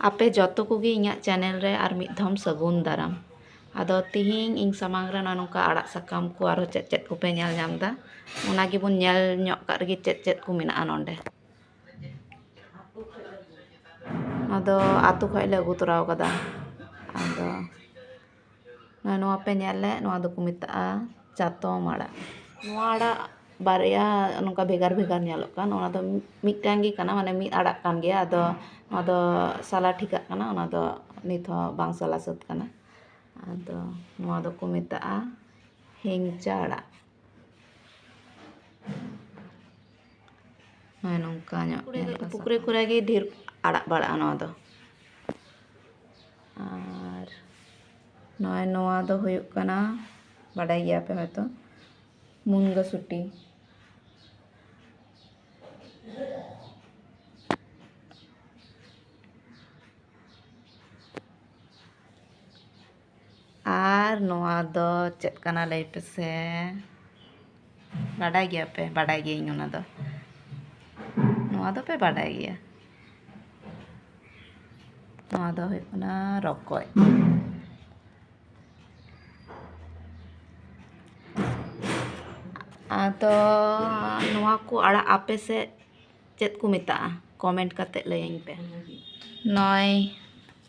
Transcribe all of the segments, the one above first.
ᱟᱯᱮ ᱡᱚᱛᱚ ᱠᱚᱜᱮ ᱤᱧᱟᱹᱜ ᱪᱮᱱᱮᱞ ᱨᱮ ᱟᱨ ᱢᱤᱫ ᱫᱷᱟᱣ ᱥᱟᱹᱜᱩᱱ ᱫᱟᱨᱟᱢ ᱟᱫᱚ ᱛᱮᱦᱮᱧ ᱤᱧ ᱥᱟᱢᱟᱝ ᱨᱮ ᱱᱚᱜᱼᱚᱭ ᱱᱚᱝᱠᱟ ᱟᱲᱟᱜ ᱥᱟᱠᱟᱢ ᱠᱚ ᱟᱨᱚ ᱪᱮᱫ ᱪᱮᱫ ᱠᱚᱯᱮ ᱧᱮᱞ ᱧᱟᱢ ᱮᱫᱟ ᱚᱱᱟ ᱜᱮᱵᱚᱱ ᱧᱮᱞ ᱧᱚᱜ ᱠᱟᱜ ᱞᱮᱜᱮ ᱪᱮᱫ ᱪᱮᱫ ᱠᱚ ᱢᱮᱱᱟᱜᱼᱟ ᱱᱚᱰᱮ ᱟᱫᱚ ᱟᱹᱛᱩ ᱠᱷᱚᱱ ᱞᱮ ᱟᱹᱜᱩ ᱛᱚᱨᱟᱣ ᱠᱟᱫᱟ ᱟᱫᱚ ᱟᱨ ᱱᱚᱣᱟ ᱯᱮ ᱧᱮᱞ ᱞᱮᱫ ᱱᱚᱣᱟ ᱫᱚᱠᱚ ᱢᱮᱛᱟᱜᱼᱟ ᱪᱟᱛᱚᱢ ᱟᱲᱟᱜ ᱱᱚᱣᱟ ᱟᱲᱟᱜ ᱵᱟᱨᱭᱟ ᱱᱚᱝᱠᱟ ᱵᱷᱮᱜᱟᱨ ᱵᱷᱮᱜᱟᱨ ᱧᱮᱞᱚᱜ ᱠᱟᱱ ᱚᱱᱟ ᱫᱚ ᱢᱤᱫᱴᱟᱝ ᱜᱮ ᱠᱟᱱᱟ ᱢᱟᱱᱮ ᱢᱤᱫ ᱟᱲᱟᱜ ᱠᱟᱱ ᱜᱮᱭᱟ ᱟᱫᱚ ᱱᱚᱣᱟ ᱫᱚ ᱥᱟᱞᱟ ᱴᱷᱤᱠᱟᱜ ᱠᱟᱱᱟ ᱚᱱᱟ ᱫᱚ ᱱᱤᱛ ᱦᱚᱸ ᱵᱟᱝ ᱥᱟᱞᱟ ᱥᱟᱹᱛ ᱠᱟᱱᱟ ᱟᱫᱚ ᱱᱚᱣᱟ ᱫᱚᱠᱚ ᱢᱮᱛᱟᱜᱼᱟ ᱦᱮᱝᱪᱟ ᱟᱲᱟᱜ ᱦᱮᱸ ᱱᱚᱝᱠᱟ ᱧᱚᱜ ᱯᱩᱠᱷᱨᱤ ᱠᱚᱨᱮ ᱜᱮ ᱰᱷᱮᱨ ᱟᱲᱟᱜ ᱵᱟᱲᱟᱜᱼᱟ ᱱᱚᱣᱟ ᱫᱚ ᱟᱨ ᱱᱚᱜᱼᱚᱸᱭ ᱱᱚᱣᱟ ᱫᱚ ᱦᱩᱭᱩᱜ ᱠᱟᱱᱟ ᱵᱟᱰᱟᱭ ᱜᱮᱭᱟ ᱯᱮ ᱦᱳᱭᱛᱳ ᱢᱩᱱᱜᱟᱹ ᱥᱩᱴᱤ ᱟᱨ ᱱᱚᱣᱟ ᱫᱚ ᱪᱮᱫ ᱠᱟᱱᱟ ᱞᱟᱹᱭ ᱯᱮᱥᱮ ᱵᱟᱰᱟᱭ ᱜᱮᱭᱟᱯᱮ ᱵᱟᱰᱟᱭ ᱜᱤᱭᱟᱹᱧ ᱚᱱᱟ ᱫᱚ ᱱᱚᱣᱟ ᱫᱚᱯᱮ ᱵᱟᱰᱟᱭ ᱜᱮᱭᱟ ᱱᱚᱣᱟ ᱫᱚ ᱦᱩᱭᱩᱜ ᱠᱟᱱᱟ ᱨᱚᱠᱚᱡ ᱟᱫᱚ ᱱᱚᱣᱟ ᱠᱚ ᱟᱲᱟᱜ ᱟᱯᱮ ᱥᱮᱫ ᱪᱮᱫ ᱠᱚ ᱢᱮᱛᱟᱜᱼᱟ ᱠᱚᱢᱮᱱᱴ ᱠᱟᱛᱮᱫ ᱞᱟᱹᱭᱟᱹᱧ ᱯᱮ ᱱᱚᱜᱼᱚᱭ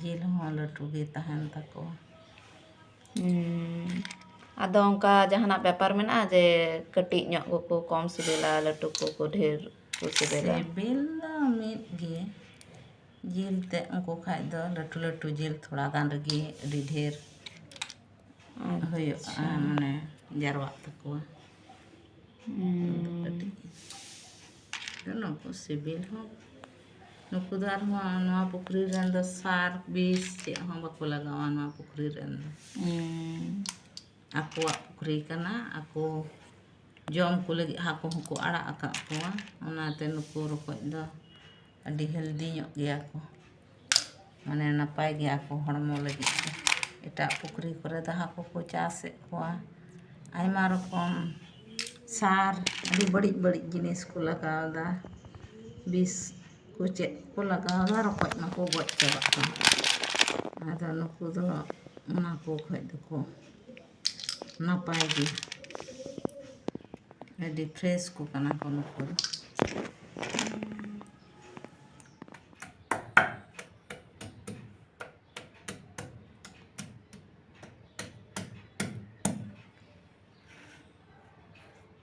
ᱡᱤᱞ ᱦᱚᱸ ᱞᱟᱹᱴᱩ ᱜᱮ ᱛᱟᱦᱮᱱ ᱛᱟᱠᱚᱣᱟ ᱟᱫᱚ ᱚᱱᱠᱟ ᱡᱟᱦᱟᱱᱟᱜ ᱵᱮᱯᱟᱨ ᱢᱮᱱᱟᱜᱼᱟ ᱡᱮ ᱠᱟᱹᱴᱤᱡ ᱧᱚᱜ ᱠᱚᱠᱚ ᱠᱚᱢ ᱥᱤᱵᱤᱞᱟ ᱞᱟᱹᱴᱩ ᱠᱚᱠᱚ ᱰᱷᱮᱨ ᱠᱚ ᱥᱤᱵᱤᱞᱟ ᱥᱤᱵᱤᱞ ᱫᱚ ᱢᱤᱫ ᱜᱮ ᱡᱤᱞ ᱛᱮᱫ ᱩᱱᱠᱩ ᱠᱷᱟᱡ ᱫᱚ ᱞᱟᱹᱴᱩ ᱞᱟᱹᱴᱩ ᱡᱤᱞ ᱛᱷᱚᱲᱟ ᱜᱟᱱ ᱨᱮᱜᱮ ᱟᱹᱰᱤ ᱰᱷᱮᱨ ᱦᱩᱭᱩᱜᱼᱟ ᱢᱟᱱᱮ ᱡᱟᱨᱣᱟᱜ ᱛᱟᱠᱚᱣᱟ ᱠᱟᱹᱴᱤᱡ ᱱᱩᱠᱩ ᱥᱤᱵᱤᱞ ᱦᱚᱸ ᱱᱩᱠᱩ ᱫᱚ ᱟᱨᱦᱚᱸ ᱱᱚᱣᱟ ᱯᱩᱠᱷᱨᱤ ᱨᱮᱱ ᱫᱚ ᱥᱟᱨ ᱵᱤᱥ ᱪᱮᱫ ᱦᱚᱸ ᱵᱟᱠᱚ ᱞᱟᱜᱟᱣᱟ ᱱᱚᱣᱟ ᱯᱩᱠᱷᱨᱤ ᱨᱮᱱ ᱫᱚ ᱟᱠᱚᱣᱟᱜ ᱯᱩᱠᱷᱨᱤ ᱠᱟᱱᱟ ᱟᱠᱚ ᱡᱚᱢ ᱠᱚ ᱞᱟᱹᱜᱤᱫ ᱦᱟᱹᱠᱩ ᱦᱚᱸᱠᱚ ᱟᱲᱟᱜ ᱟᱠᱟᱫ ᱠᱚᱣᱟ ᱚᱱᱟᱛᱮ ᱱᱩᱠᱩ ᱨᱚᱠᱚᱡ ᱫᱚ ᱟᱹᱰᱤ ᱦᱮᱞᱫᱤ ᱧᱚᱜ ᱜᱮᱭᱟ ᱠᱚ ᱢᱟᱱᱮ ᱱᱟᱯᱟᱭ ᱜᱮᱭᱟ ᱠᱚ ᱦᱚᱲᱢᱚ ᱞᱟᱹᱜᱤᱫ ᱛᱮ ᱮᱴᱟᱜ ᱯᱩᱠᱷᱨᱤ ᱠᱚᱨᱮ ᱫᱚ ᱦᱟᱹᱠᱩ ᱠᱚ ᱪᱟᱥᱮᱫ ᱠᱚᱣᱟ ᱟᱭᱢᱟ ᱨᱚᱠᱚᱢ ᱥᱟᱨ ᱟᱹᱰᱤ ᱵᱟᱹᱲᱤᱡ ᱵᱟᱹᱲᱤᱡ ᱡᱤᱱᱤᱥ ᱠᱚ ᱞᱟᱜᱟᱣᱫᱟ ᱵᱤᱥ ᱠᱚ ᱪᱮᱫ ᱠᱚ ᱞᱟᱜᱟᱣᱫᱟ ᱨᱚᱠᱚᱡ ᱢᱟᱠᱚ ᱜᱚᱡ ᱪᱟᱵᱟᱜ ᱠᱟᱱ ᱟᱫᱚ ᱱᱩᱠᱩ ᱫᱚ ᱚᱱᱟ ᱠᱚ ᱠᱷᱚᱡ ᱫᱚᱠᱚ ᱱᱟᱯᱟᱭ ᱜᱮ ᱟᱹᱰᱤ ᱯᱷᱨᱮᱥ ᱠᱚ ᱠᱟᱱᱟ ᱠᱚ ᱱᱩᱠᱩ ᱫᱚ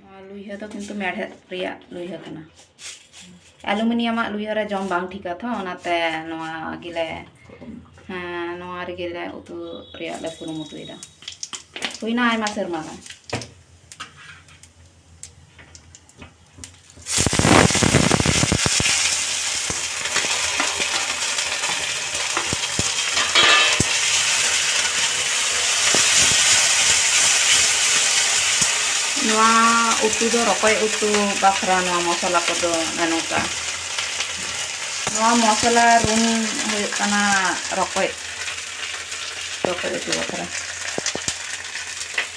ᱱᱚᱣᱟ ᱞᱩᱭᱦᱟᱹ ᱫᱚ ᱠᱤᱱᱛᱩ ᱢᱮᱲᱦᱮᱫ ᱨᱮᱭᱟᱜ ᱞᱩᱭᱦᱟᱹ ᱠᱟᱱᱟ ᱮᱞᱩᱢᱤᱱᱤᱭᱟᱢᱟᱜ ᱞᱩᱭᱦᱟᱹ ᱨᱮ ᱡᱚᱢ ᱵᱟᱝ ᱴᱷᱤᱠᱟ ᱛᱚ ᱚᱱᱟᱛᱮ ᱱᱚᱣᱟ ᱜᱮᱞᱮ ᱦᱮᱸ ᱱᱚᱣᱟ ᱨᱮᱜᱮ ᱞᱮ ᱩᱛᱩ ᱨᱮᱭᱟᱜ ᱞᱮ ᱠᱩᱨᱩᱢᱩᱴᱩᱭᱮᱫᱟ ᱦᱩᱭᱱᱟ ᱟᱭᱢᱟ ᱥᱮᱨᱢᱟ ᱜᱟᱱ ᱩᱛᱩ ᱫᱚ ᱨᱚᱠᱚᱡ ᱩᱛᱩ ᱵᱟᱠᱷᱨᱟ ᱱᱚᱣᱟ ᱢᱚᱥᱞᱟ ᱠᱚᱫᱚ ᱱᱚᱝᱠᱟ ᱱᱚᱣᱟ ᱢᱚᱥᱞᱟ ᱨᱩᱱ ᱦᱩᱭᱩᱜ ᱠᱟᱱᱟ ᱨᱚᱠᱚᱡ ᱨᱚᱠᱚᱡ ᱩᱛᱩ ᱵᱟᱠᱷᱨᱟ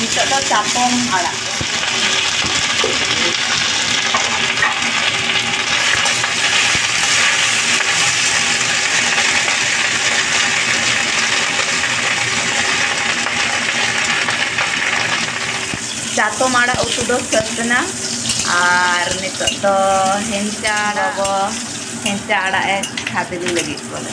ᱱᱤᱛᱚᱜ ᱫᱚ ᱪᱟᱛᱚᱢ ᱟᱲᱟᱜ ᱪᱟᱛᱚᱢ ᱟᱲᱟᱜ ᱩᱛᱩ ᱫᱚ ᱥᱟᱹᱛ ᱮᱱᱟ ᱟᱨ ᱱᱤᱛᱚᱜ ᱫᱚ ᱦᱮᱱᱪᱟ ᱟᱲᱟᱜ ᱵᱚ ᱦᱮᱱᱪᱟ ᱟᱲᱟᱜ ᱮ ᱠᱷᱟᱫᱽᱞᱮ ᱞᱟᱹᱜᱤᱫ ᱵᱚᱞᱮ